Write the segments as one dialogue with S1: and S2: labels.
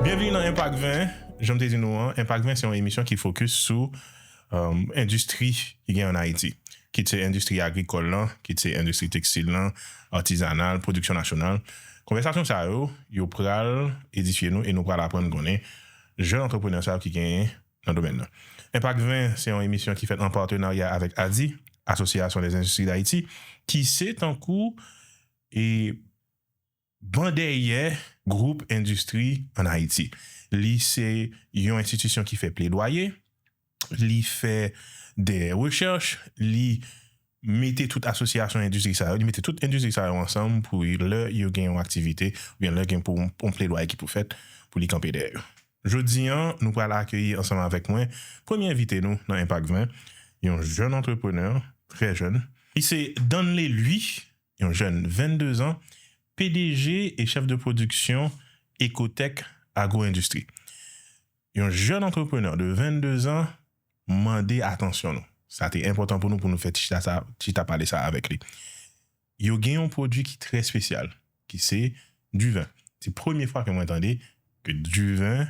S1: Byenvni nan Enpak 20, janm te di nou an Enpak 20 se yon emisyon ki fokis sou endistri ki gen an Ayiti, kit se endistri agrikòl lan, kit se endistri tekstil lan, atizanal, pwodiksyon nasyonal. Konvèsasyon sa yo, yo pral edifye nou e nou pral aprann konnen jèn antreprenè sa yo ki gen nan domèn nan. Enpak 20 se yon emisyon ki fèt an patenarya avèk ADI, Asosyasyon dè Endistri Dayiti, ki se tankou e ban dèyè gwoup endistri an Ayiti. Li se yon enstitisyon ki fè pledwaye, li fè dè rechèch, li mete tout asosyasyon endistri sa yo, li mete tout endistri sa yo ansanm pou lè yo gen yon aktivite oubyen lè gen pou yon pledwaye ki pou fèt pou li kanpe dèyè yo. Jodi an, nou pral akeyi ansanm avèk mwen premye envite nou nan Enpak 20, yon jèn antreprenè, trè jèn. Li se Danley Louis, yon jèn 22 zan, pdg e chèf de pwodiksyon Ecotec Agro Industrie. Yon jèn antreprenè de 22 zan. mande atansyon nou. Sa te enpòtan pou nou pou nou fè ti chita sa, chita pale sa avèk li. Yo gen yon pwodui ki trè espesyal, ki se diven. Se premye fwa ke mwen tande ke diven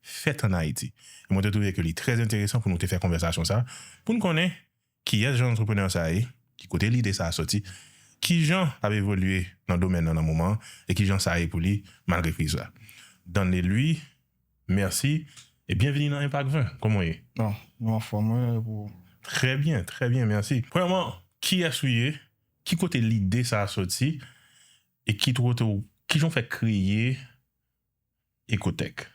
S1: fèt an Ayiti. E mwen te twouve ke li trè enteresan pou nou te fè konvèsasyon sa, pou nou konnen kiyès jan antreprenè sa ye, ki kote lide sa soti, ki jan l ap evolye nan domèn nan nan moman an, e ki jan sa ye pou li malgre kriz la. Danlelui. Merci e byenvini nan Impact 20 koman w ye? Bon nou anfòm
S2: wi e pou ou? Trè byen trè
S1: byen mèsi premyèman kiyès ou ye ki kote lide sa soti e ki kote ou kijan ou fè kreye Ecotech.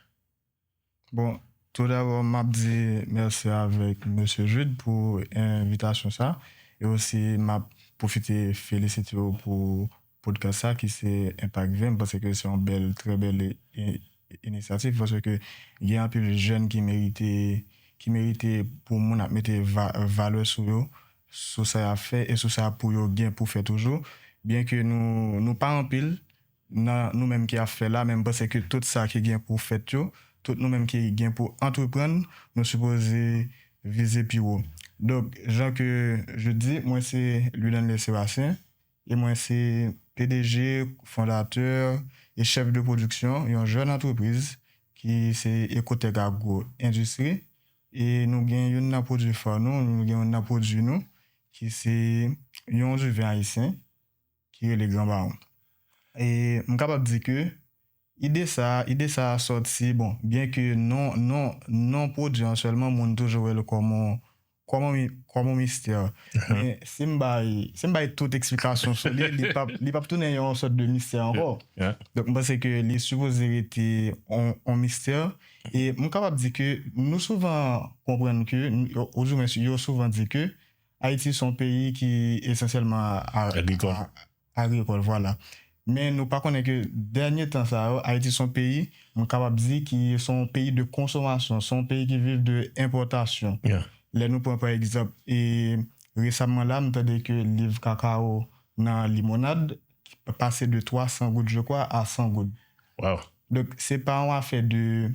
S2: Bon tou dabò map di mèsi avèk mesye Jude pou envitasyon sa e osi map pwofite felisite w pou podcast sa ki se enpak 20 m panse ke se yon bèl trè bèl inisyativ panse ke gen anpil jèn ki merite ki merite pou moun ap mete valè sou yo sou sa yap fè e sou sa pou yo gen pou fè toujou byen ke nou nou pa anpil nan nou menm ki ap fè la men m panse ke tout sa ki gen pou fèt yo tout nou menm ki gen pou antreprann nou sipoze vize pi wo donk jan ke je di mwen se Luidanlè Sébastien. E mwen se pdg, fondatè e chèf de pwodiksyon yon jèn antrepriz ki se Ecotec Agro Industrie e nou gen youn nan pwodui fa nou, nou gen youn nan pwodui nou ki se yon diven ayisyen ki rele Gran Baron. E m kapab di ke ide sa, ide sa a sòti, bon, byen ke non, non, non pwodui an sèlman moun toujou wè l kòm on, Kòman mistè? Men si m bay tout eksplikasyon sou li, li pap tounen yon sòt de mistè ankò. Donk m panse ke li sipoze rete yon mistè. E m kapab di ke nou souvan konprann ke, ouzoumen yo souvan di ke Ayiti se yon peyi ki esansyèlman agrikòl. agrikòl vwala. Men nou pa konnen ke dènye tan sa yo Ayiti son peyi m kapab di ki son peyi de konsomasyon, son peyi ki viv de enpòtasyon. Lè nou pran pa egzanp e resamman la m tande ke liv kakawo nan limonad pase de 300 goud je kwa a 100 goud. Donk
S1: se pa
S2: yon afè de.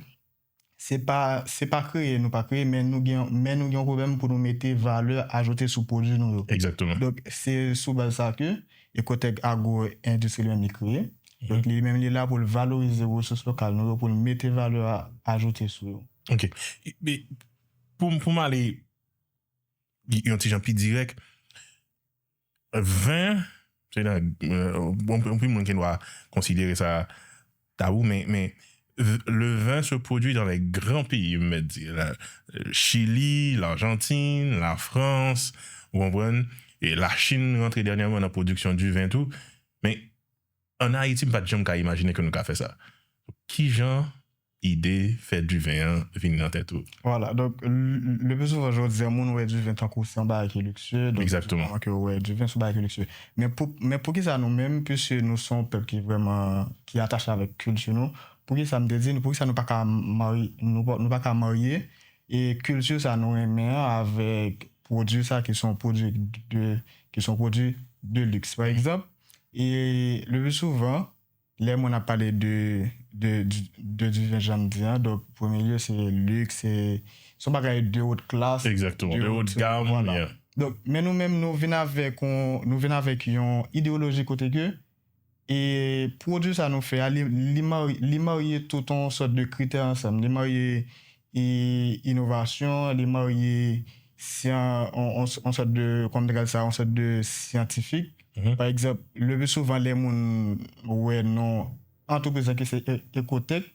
S2: Se pa se pa kreye nou pa kreye men nou gen men nou gen yon pwoblèm pou nou mete valè ajoute sou pwodui nou yo. Exactement. Donk se
S1: sou
S2: baz sa ke Ecotech Agro Industrie li menm li kreye. Donk li menm li la pou l valorize resous lokal nou yo pou l mete valè ajoute sou yo. Ok.
S1: Men pou m pou m ale yon ti jan pi dirèk. Vin, se nan, anpil moun gen dwa konsidere sa tabou men le vin se pwodui dan lè gran peyi m mèt di la, Chili, Larjantin, Lafrans, ou konprann, e Lachin rantre dènyèman nan pwodiksyon di vin tou, men an Ayiti m pa t janm ka imajine ke nou ka fè sa. Kijan. ide fè diven an vini nan tèt ou. Vwala, donk
S2: le pli souvan jodi a moun wè diven tankou se yon bagay ki liksye, donk se souvan ke yo wè diven
S1: se yon bagay ki
S2: liksye. Men pou men poukisa nou menm piske nou se yon pèp ki vrèman ki atache avèk kilti nou, poukisa m te di nou poukisa nou pa ka marye nou pa ka marye e kilti sa nou renmen an avèk pwodui sa ki se yon pwodui de ki se yon pwodui de liks pa egzanp e le pli souvan. Lè moun ap pale de de diven janm di an donk premye lye se lux se yon bagay de haute classe exactement de haute
S1: gamme yeah donk
S2: men nou menm nou vin avèk yon nou vin avèk yon idéologie kote ke e pwodwi sa nou fè a li li marye tout yon sòt de kritè ansanm li marye e inovasyon li marye yon sòt de kòm te ka di sa yon sòt de syantifik pa egzanp le pi souvan lè moun wè non antrepriz la ki se Ecotec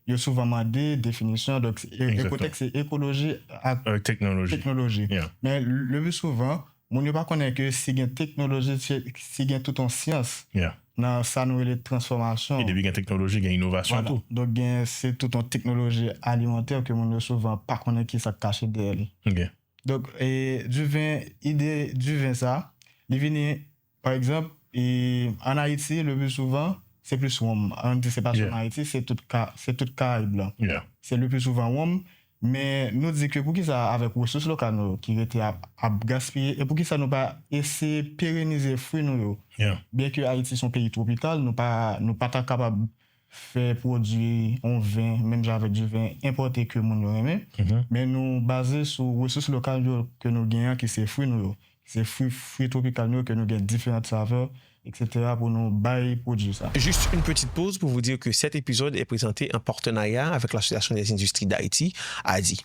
S2: yo souvan mande definisyon donk Ecotec se ekoloji ak teknoloji men
S1: le pi souvan
S2: Moun yo pa konnen ke si gen teknoloji, si gen tout yon syans nan sa
S1: nou rele
S2: transfòmasyon. E depi gen
S1: teknoloji
S2: gen
S1: inovasyon tou. Vwala. Donk gen
S2: se
S1: tout
S2: yon teknoloji alimantè ke moun yo souvan pa konnen ki sa k kache dèyè li. Ok. Donk, Duvin, ide Duvin sa, li vini Pa egzanp, an Ayiti, le pli souvan, se plis wonm. An di se pa sèlman Ayiti, se tout ka, se tout Karayib lan. Se le pli souvan
S1: wonm.
S2: Men nou di ke poukisa avèk resous lokal nou yo ki rete ap, ap gaspiye, e poukisa nou pa eseye perenize fwi nou yo? Byenke
S1: Ayiti se yon peyi
S2: twopikal, nou pa, nou pa ta kapab fè pwodui yon vin menm jan avèk di vin enpòte ke moun yo renmen, men nou baze sou resous lokal yo ke nou gen an ki se fwi nou yo, ki se fwi fwi twopikal nou yo ke nou gen diferant savè eksetera pou nou bay pwodui sa. Juste une petite pause
S3: pour vous dire que cet épisode est présenté en partenariat avec l'Association des industries d'Haïti, ADHI.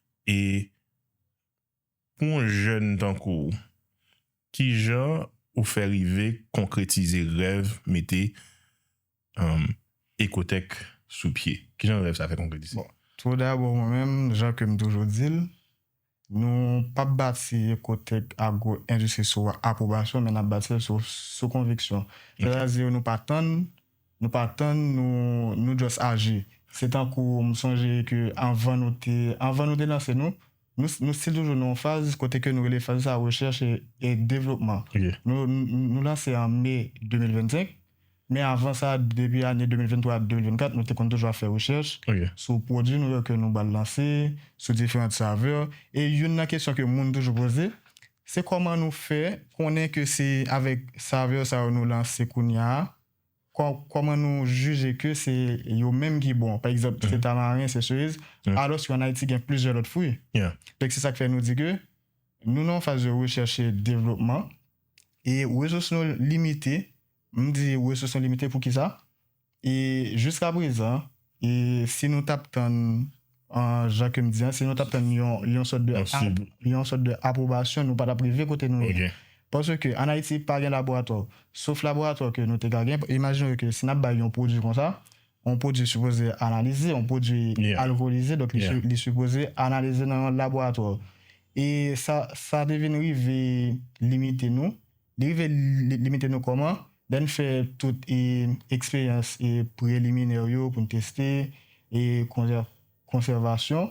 S1: e pou yon jèn tankou w kijan ou fè rive konkretize rèv mete Ecotech sou pye kijan rèv sa fè konkretize? Tou dabò
S2: mwen menm jan ke m toujou di l nou pap bati Ecotech Agro Industrie sou apwobasyon men nap bati l sou konviksyon sètadi nou pa tann Nou pa tann nou nou just aji. Se tankou m sonje ke anvan nou te anvan nou te lanse nou, nou nou stil toujou nan yon faz kote ke nou rele faz sa rechèch e e devlopman. Nou
S1: nou lanse
S2: an me 2025, men avan sa depi ane 2023, 2024 nou te konn toujou ap fè rechèch sou pwodui nou yo ke nou bal lanse, sou diferant savè e youn nan kesyon ke moun toujou poze se kòman nou fè konnen ke se avèk savè sa yo nou lanse kounya a Kòman nou jije ke se yo menm ki bon? Pa egzanp, se tamaren, se seriz, alòske an Ayiti gen plizyè lòt fwi. Donk se sa k fè nou di ke nou nan yon faz de rechèch e devlopman e resous nou limite. M di resous nou limite poukisa? E jiskaprezan. E si nou tap tann, jan kem di an, si nou tap tann yon sòt de, yon sòt de apwobasyon, nou pa tap rive kote nou ye. Paske an Ayiti pa gen laboratwa. Sof laboratwa ke nou te ka gen, imajine ke si nap bay yon pwodui konsa, yon pwodui sipoze analize, yon pwodui alkolize, donk li sipoze analize nan yon laboratwa. E sa te vin rive limite nou. Li rive limite nou kòman? Lè n fè tout eksperyans preliminè yo pou n teste e konsèvasyon,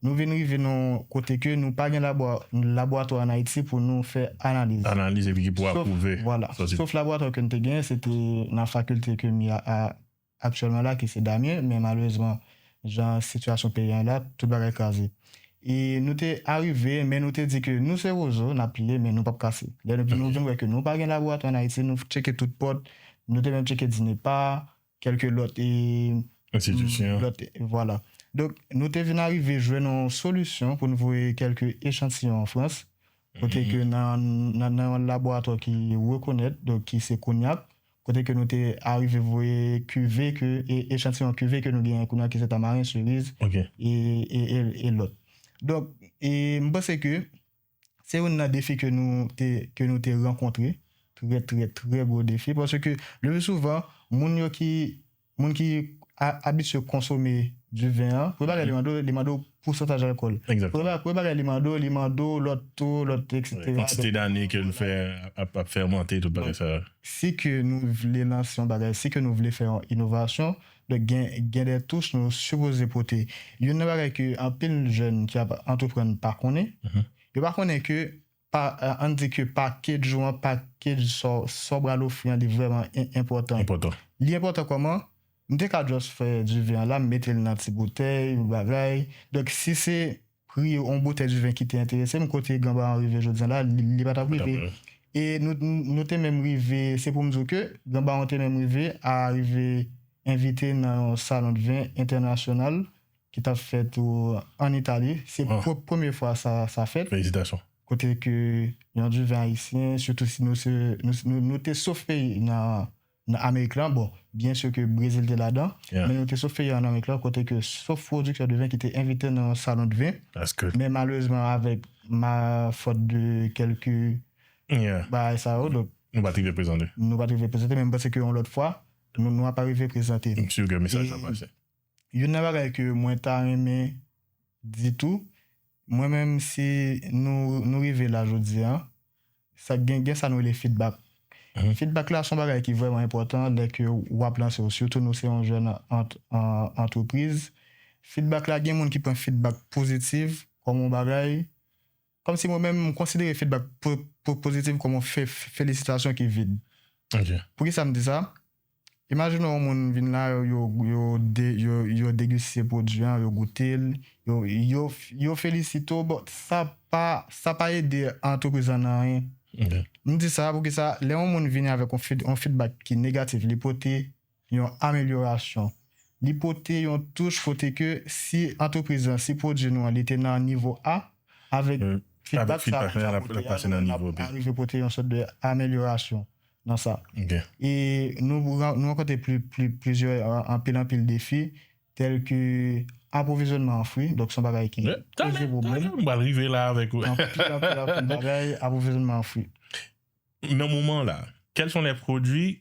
S2: nou vin rive nan yon kote ke nou pa gen laboratwa an Ayiti pou nou fè analiz. Analiz epi ki pou
S1: apwouve sòti. Sof laboratwa
S2: ke n te genyen se te nan fakilte ke m ye a aktyèlman la ki se Damien men malerezman jan sitiyasyon peyi an ye la tout bagay kraze e nou te arive men nou te di ke nou se rozo nap pliye men nou pap kase lè nou vin nou vin wè ke nou pa gen laboratwa an Ayiti nou tcheke tout pòt nou te menm tcheke DINEPA kèlke lòt e enstitisyon
S1: lòt vwala
S2: donk nou te vin arive jwenn yon solisyon pou nou voye kèlke echantiyon an Frans kote ke nan nan yon laboratwa ki rekonèt donk ki se Cognac kote ke nou te arive voye kuve ke, echantiyon kuve ke nou genyen kounye a ki se Tamaren, Siriz, e lòt. Donk, m panse ke se youn nan defi ke nou te, ke nou te rankontre, trè, trè, trè gwo defi, paske le pli souvan, moun yo ki. Moun ki abitye konsome du vin an, premye bagay li mande w, li mande w pousantaj alkòl. Premye bagay li
S1: mande w, li
S2: mande w lòt to, lòt etc. Kantite dane ke l
S1: fè ap fèmante, tout bagay sa yo. Si ke nou
S2: vle lanse yon bagay, si ke nou vle fè yon inovasyon, donk gen de touch nou sipoze pote. Youn nan bagay ke anpil jèn ki ap antreprann pa konnen, yo pa konnen ke Pa ann di ke package ou an, package sa w sa w pral ofri an li vrèman enpòtan. Enpòtan. Li enpòtan kòman? M te ka just fè diven an la, m mete l nan ti boutèy, yon bagay. Donk si se pri yon boutèy diven ki te enterese m, kote Ganbaa an rive jodi an la, li pa t ap rive. E nou nou te menm rive, se pou m di w ke Ganbaa an te menm rive a rive envite nan yon salon de vin entènasyonal ki tap fèt an Itali, se pou premye fwa sa fèt, kote
S1: ke
S2: yon diven ayisyen, sitou si nou te sof peyi nan Amerik lan, bon, byen sè ke Brezil te ladan, men nou te sof peyi an Amerik lan, kote ke sof pwodiktè diven ki te envite nan yon salon diven, men malerezman avèk ma fòt de kèlke bagay sa yo, donk, nou pat rive prezante,
S1: nou pat rive prezante, men m
S2: panse ke yon lòt fwa, nou ap arive prezante. M si ke mesaj la
S1: pase. Youn nan bagay
S2: ke mwen ta renmen di tou, mwen menm si nou nou rive la jodi an, sa gen gen sa nou rele feedback. Feedback la son bagay ki vrèman enpòtan lè ke ou ap lanse ou sitou nou se yon jèn antrepriz. Feedback la gen moun ki pran feedback pozitiv kòm yon bagay. Kòm si mwen menm, m konsidere fidbak pozitif kòm yon felisitasyon ki vid. Poukisa
S1: m di sa?
S2: Imajine yon moun vin la, yo degiste pwodui an, yo goute l, yo felisite w, bon, sa pa ede antrepriz lan nan anyen. M di
S1: sa, poukisa?
S2: Lè yon moun vini avèk yon fidbak ki negatif, li pote yon amelyorasyon. Li pote yon touch kote ke si antrepriz lan, si pwodui nou an li te nan nivo A, avèk fidbak sa a nou pote a, nou
S1: menm nap arive pote yon sòt de
S2: amelyorasyon nan sa. E nou rankontre plizyè, anpil anpil defi, tèl ke apwovizyònman an fwi, donk son bagay ki poze pwoblèm. Anpil anpil
S1: anpil
S2: bagay apwovizyònman an fwi.
S1: Nan moman la, kèl son lè pwodui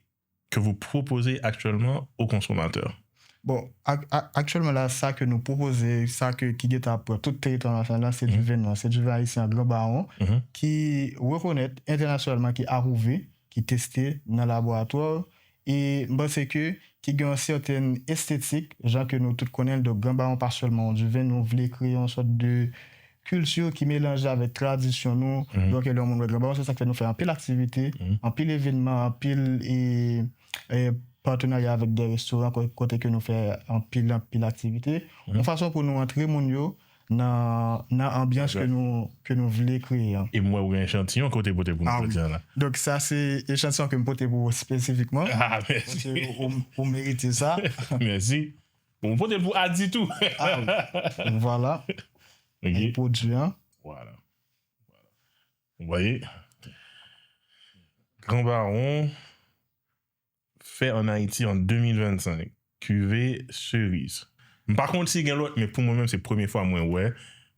S1: que vous proposez actuellement aux consommateurs? Bon,
S2: aktyèlman la, sa ke nou pwopoze, sa ke ki gen tan pran tout teritwa nasyonal la, se du vin nwa, se du vin ayisyen an gran bawon, ki rekonèt entènasyonalman, ki apwouve, ki teste nan laboratwa, e m panse ke ki gen yon sèten estetik, jan ke nou tout konnen l, donk gran bawon pa sèlman yon du vin, nou vle kreye yon sòt de kilti ki melanje avèk tradisyon nou, donk lè yon moun wè Gran Baron se sak fè nou fè anpil aktivite, anpil evenman, anpil patenarya avèk dè restoran kote ke nou fè anpil anpil aktivite, yon fason pou nou antre moun yo nan anbyans ke nou vle kreye an. E m wè ou gen echantiyon
S1: ke ou te pote pou nou jodi an la. Donk sa se
S2: echantiyon ke m pote pou ou espesifikman. Ah mèsi. Paske
S1: ou merite
S2: sa. Mèsi.
S1: Bon m pote l pou Ady tou. Ah oui. Donc
S2: voilà. Ok.
S1: Li pwodui an.
S2: Voilà.
S1: Ou voye. Grand Baron fè an Ayiti an 2025. Kuve Cerise. M pa konn si gen lòt men pou mwen menm se premye fwa mwen wè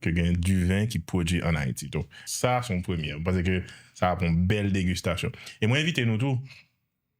S1: ke gen du vin ki pwodui an Ayiti. Donc sa son premyè. M panse ke sa ap yon bèl degustasyon. E mwen envite nou tou.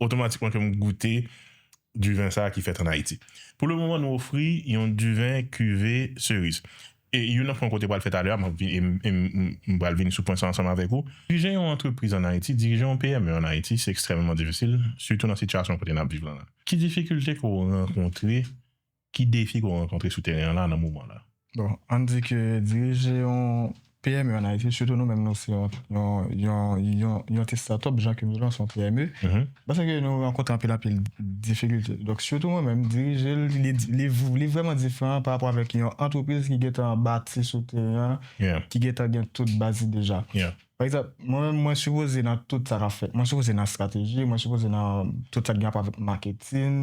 S1: otomatikman ke m goute diven sa ki fèt an Ayiti. Pou le moman nou ofri yon diven kuve seriz. E youn nan pwen kote pral fè talè a, e m pral vini sou pwen sa ansanm avèk ou. Dirije yon antrepriz an Ayiti, dirije yon PME an Ayiti se ekstrèmeman difisil, sitou nan sitiyasyon kote n ap viv la. Ki difikilte ke w rankontre Ki defi ke w rankontre sou teren an la nan moman la? Bon, ann di ke
S2: dirije yon PME an Ayiti, sitou nou menm nou se yon ti startup jan ke nou lan se yon PME, mwen seke nou rankontre anpil anpil difikilte. Donk sitou mwen menm dirije l, li vrèman diferan pa rapò avèk yon antrepriz ki gentan bati sou teren an, ki gentan gen tout baz li deja. Pa egzanp, mwen menm mwen sipoze nan tout sa k ap fèt. Mwen sipoze nan estrateji, mwen sipoze nan tout sa ki gen rapò avèk maketin,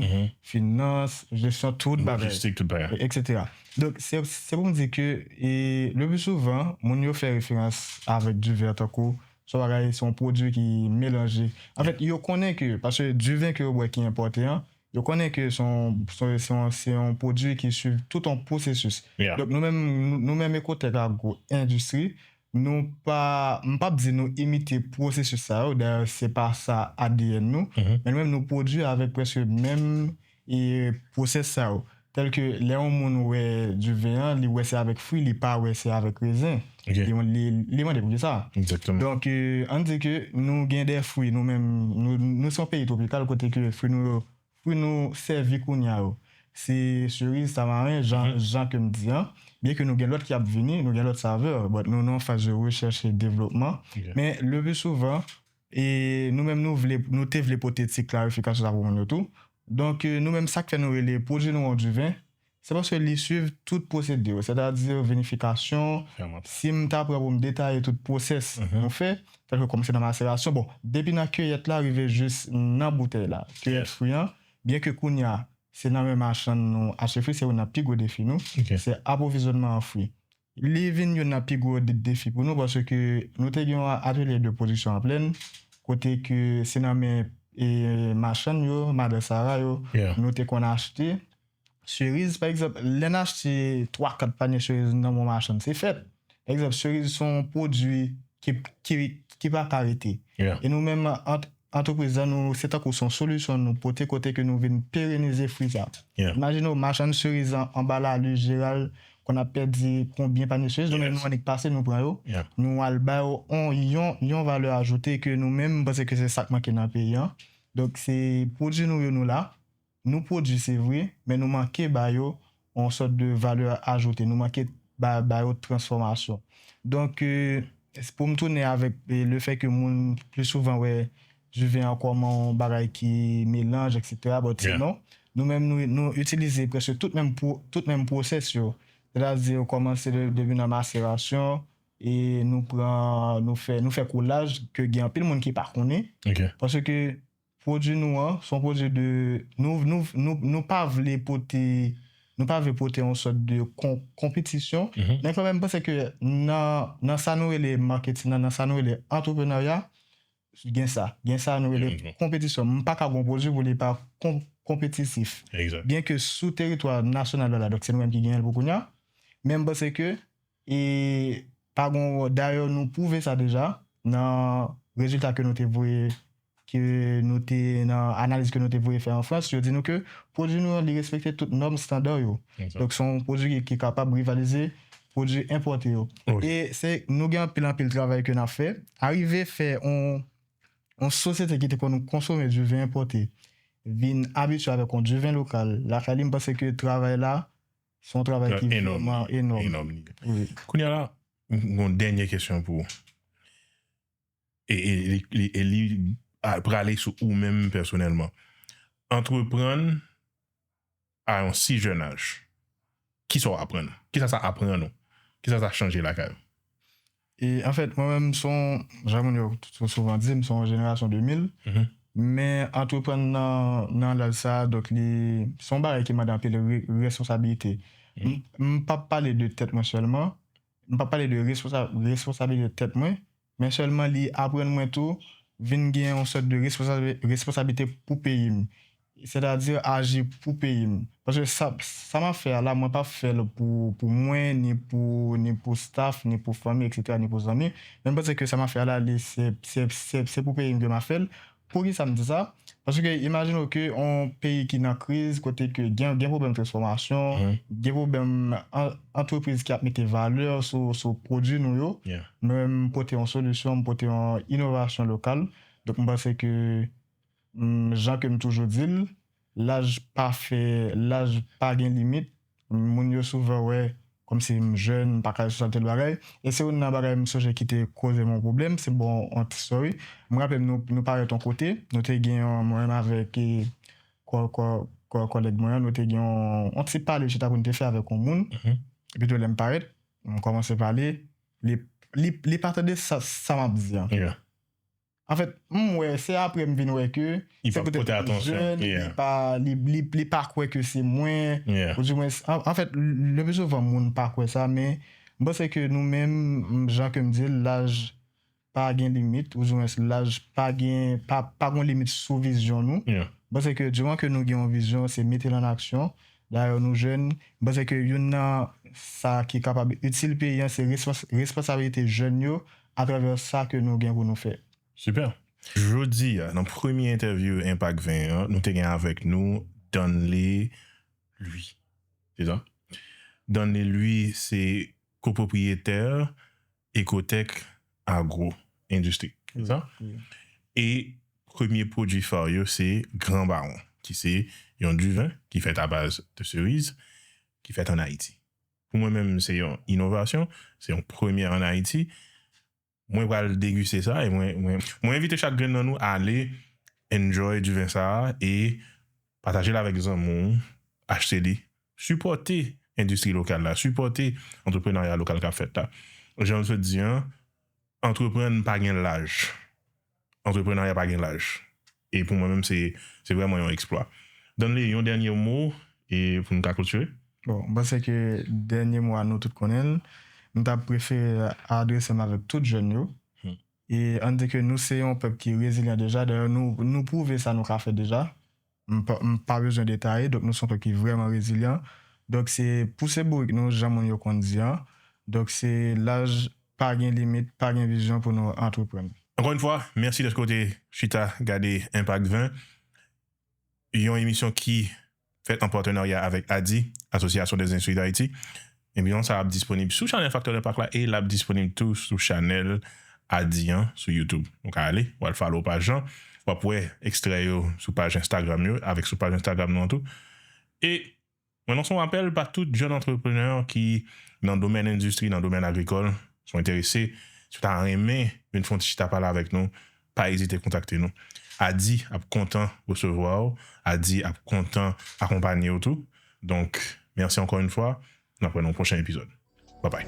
S2: finans, jesyon tout bagay. Lojistik tout bagay.
S1: Eksetera. Donk,
S2: se pou m di ke le pli souvan, moun yo fè referans avèk diven an tankou se yon bagay, se yon pwodui ki melanje. Anfèt, yo konnen ke, paske diven ke yo bwè ki enpòte an, yo konnen ke se yon, se yon pwodui ki swiv tout yon pwosesis. Donk, nou menm, nou menm Ecotech Agro Industrie, Nou pa, m pap di nou imite pwosesis sa yo, dayè se pa sa adn nou, men nou menm nou pwodui avèk prèske menm pwosès sa yo. Tèlke lè yon moun wè du vin an, li wè se avèk fwi, li pa wè se avèk rezen.
S1: Li mande
S2: poukisa. Donk
S1: ann di
S2: ke nou gen de fwi nou menm, nou se yon peyi twopikal kote ke fwi nou yo. pou nou sèvi kounya yo se Cerise Tamarin jan jan ke m di an byen ke nou gen lòt ki ap vini nou gen lòt saveur but nou nan faz de rechèch e devlopman men le plus
S1: souvan
S2: e nou menm nou vle nou te vle pote ti klarifikasyon sa pou moun yo tou donk nou menm sak fè nou rele pwodui nou an du vin Se paske li swiv tout pwosedi yo, sètadi vinifikasyon, si m
S1: ta pran pou m
S2: detaye tout pwosès nou fè, tèlke kòmanse nan maserasyon, bon, depi nan kiyèt la rive jis nan boutèy la, kiyèt fwi an, byenke kounye a se nan men machann nou achte fwi, se youn nan pi gwo defi nou, se apwovizyònman an fwi. Li vin youn nan pi gwo defi pou nou paske nou te gen yon atelye de pwodiksyon an plenn kote ke se nan men machann yo, madan sara yo nou te konn achte seriz. Pa egzanp, lè n achte twa kat panye seriz nan men yon machann se fèt. Pa egzanp, seriz se yon pwodui ki pa ka rete e nou menm ant Antrepriz lan nou se tankou son solisyon nou pote kote ke nou vin perenize fri sa. Imajine w machann seriz lan anba lalu jeral konn ap pèdi konbyen panye seriz nou menm nou annik pase nou pran yo nou al ba yo on yon yon valè ajoute ke nou menm m panse ke se sak manke nan peyi an donk se pwodui nou yo nou la Nou pwodui se vre, men nou manke ba yo yon sòt de valè ajoute, nou manke ba yo transfòmasyon. Donk, pou m tounen avèk le fè ke moun plis souvan wè duven an kòm yon bagay ki melanj eksetera, bon ti non. Nou menm nou itilize prèske tout menm pwosès yo. Sètadi yo kòmanse depi nan maserasyon e nou pran, nou fè koulaj ke gen anpil moun ki pa konnen. Paske. Pwodwi nou an, son pwodwi de, nou, nou, nou, nou pa vle pote, nou pa vle pote yon sòt de kon, konpetisyon, men kanmèm m panse ke nan, nan sa nou rele marketing nan, nan sa nou rele entreprenarya, gen sa, gen sa nou rele konpetisyon. M paka gon pwodwi pou li pa kon, konpetitif. Byen ke sou teritwa nasyonal yo la, donk se nou menm ki genyen l pou kounya, men m panse ke. E pa gon dayè nou pwouve sa deja nan rezilta ke nou te voye ke nou te nan analiz ke nou te voye fè an Frans yo di nou ke pwodwi nou an li respekte tout nòm standard yo donk se yon pwodwi ki kapab rivalize pwodwi enpòte yo e se nou gen anpil anpil travay ke nap fè arive fè yon sosyete ki te konn konsome du vin enpòte vin abitye avèk yon du vin lokal lakay li m panse ke travay la Se yon travay ki vreman enòm. Kounye a la, mwen
S1: gen yon dènye kesyon pou ou. E li prale sou ou menm pèsonèlman. Antreprann a yon si jèn aj, kisa w aprann? Kisa sa aprann ou? Kisa sa chanje lakay ou? E
S2: anfèt, mwen menm m s on, jan moun yo souvan di, m s on jenerasyon 2000, men antreprann nan laj sa a, donk li s on bagay ki mande anpil responsabilite. M p ap pale de tèt mwen sèlman, m p ap pale de responsabilite tèt mwen, men sèlman li aprann mwen tou vin gen yon sòt de responsabilite pou peyi m. Sètadi aji pou peyi m. Paske sa m ap fè a la mwen p ap fè l pou mwen, ni pou staf, ni pou fanmi eksetera, ni pou zanmi. Men m panse ke sa m ap fè a la li se pou peyi m ke m ap fè l. Poukisa m di sa? Paske imajine w ke yon peyi ki nan kriz, kote ke gen pwoblèm transfòmasyon, gen pwoblèm antrepriz ki ap mete valè sou pwodui nou yo, mwen m pote yon solisyon, m pote yon inovasyon lokal. Donk m panse ke. Jan ke m toujou di l, laj pa fè, laj pa gen limit. Moun yo souvan wè kòmsi m jèn, m pa ka jwe tanpil bagay. E se youn nan bagay m sonje ki te koze m yon pwoblèm, se bon yon ti story. M raple m nou nou parèt yon kote, nou te gen yon, mwen menm avèk kòlèg mwen an, nou te gen yon ti pale chita pou n te fè avèk yon moun. Epi tou lè m parèt, m kòmanse pale, li pa tande sa m ap di an. Anfèt m wè se aprè m vin wè ke se petèt m te
S1: jèn
S2: li pa kwè ke se mwen oudimwens anfèt le pi souvan moun pa kwè sa men m panse ke nou menm jan ke m di l laj pa gen limit oudimwens laj pa gen pa gon limit sou vizyon nou m panse ke diman ke nou gen yon vizyon se mete l an aksyon. Dayè nou jèn, m panse ke youn nan sa ki kapab itil peyi an se responsabilite jèn yo atravè sa ke nou gen pou nou fè. Super!
S1: Jodi a nan premye entèvyou Enpak 20 an, nou te gen avèk nou Danley Louis. Se sa? Danley Louis se kopwopriyetè Ecotech Agro Industrie e premye pwodui fa yo se Grand Baron ki se yon diven ki fèt a baz de seriz ki fèt an Ayiti. Pou mwen menm se yon inovasyon, se yon premyè an Ayiti. Mwen pral degiste sa e mwen envite chak grenn nan nou ale enjoy diven sa e Pataje l avèk zanmi w, achte li. Sipòte endistri lokal la, sipòte antreprenarya lokal k ap fèt la. Jan l sot di an, antreprann pa gen laj. Antreprenarya pa gen laj. E pou mwen menm se se vrèman yon eksplwa. Danley, yon dènye mo e pou nou ka klotire? Bon, m panse ke
S2: dènye mo a nou tout konnen l. M ta prefere adrese m avèk tout jèn yo. E ann di ke nou se yon pèp ki rezilyan deja, dayè nou nou pwouve sa nou ka fè deja, m pa m pa bezwen detaye, donk nou se yon pèp ki vrèman rezilyan, donk se pouse bourik nou jan moun yo konn di an, donk se laj pa gen limit, pa gen vizyon pou nou antreprann. Ankò yn fwa, mèsi
S1: dèske w te chita gade Enpak 20. yon emisyon ki fèt an patenarya avèk ADIH, Association des Instruits d'Haïti. Emisyon sa ap disponib sou chanèl Facteur Impact la e lap disponib tou sou chanèl ADIH an sou YouTube. Ou ka ale, wal follow paj lan, wap wè ekstrè yo sou paj Instagram yo avèk sou paj Instagram nou an tou. E Mwen lanse yon apèl pa tout jèn antreprenè ki nan domèn endistri, nan domèn agrikòl, si w enterese, si w ta renmen vin fè yon ti chita pale avèk nou, pa ezite kontakte nou. Ady ap kontan resevwa w, Ady ap kontan akonpanye w tou. Donk, mèsi ankò yon fwa, n ap wè nan yon pwochen epizòd. Babay!